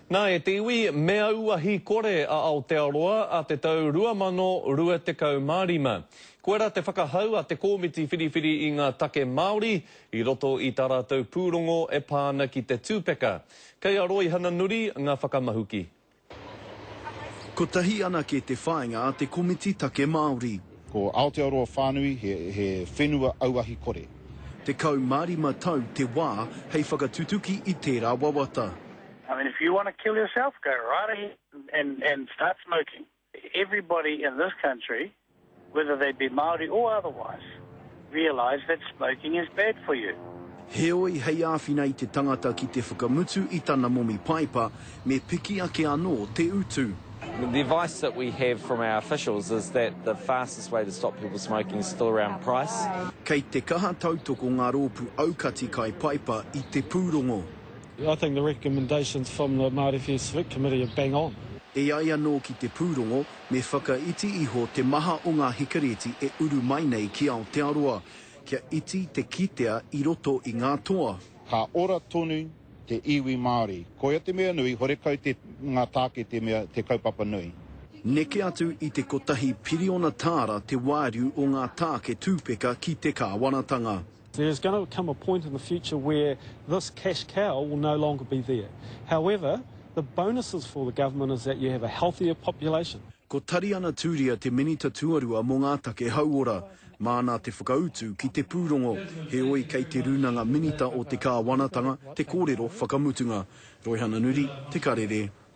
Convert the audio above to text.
Nā, e te iwi, me aua hīkore a Aotearoa a te tau 2025. Koirā te whakahau a te Kōmiti Whiriwhiri i ngā Take Māori i roto i tā rātou pūrongo e pā ana ki te tūpeka. Kei a Roihana Nuri ngā whakamahuki. Kotahi anake te whāinga a te Komiti Take Māori. Ko Aotearoa whānui he he whenua auahi kore. 15 tau te wā hei whakatutuki i tērā wawata. I mean if you want to kill yourself go right ahead and and start smoking. Everybody in this country whether they be Māori or otherwise. realise that smoking is bad for you. Heoi, hei āwhina i te tangata ki te whakamutu i tana momi paepa, me piki ake anō te utu. The advice that we have from our officials is that the fastest way to stop people smoking is still around price. Kei te kaha tautoko ngā rōpū aukati kai paepa i te pūrongo. I think the recommendations from the Māori First Vic Committee are bang on. E ai anō ki te pūrongo, Me whakaiti iho te maha o ngā hikareti e uru mai nei ki Aotearoa, kia iti te kitea i roto i ngā toa. Ka ora tonu te iwi Māori. Koia te mea nui, horekau te ngā tāke te mea te kaupapa nui. Neke atu i te kotahi piriona tāra te wāriu o ngā tāke tūpeka ki te kāwanatanga. There is going to come a point in the future where this cash cow will no longer be there. However, the bonuses for the government is that you have a healthier population. Ko Tariana Turia te Minita Tuarua mō ngā Take Hauora. Māna te whakautu ki te pūrongo, heoi kei Te Rūnanga Minita o te Kāwanatanga te kōrero whakamutunga. Roihana Nuri, Te Karere,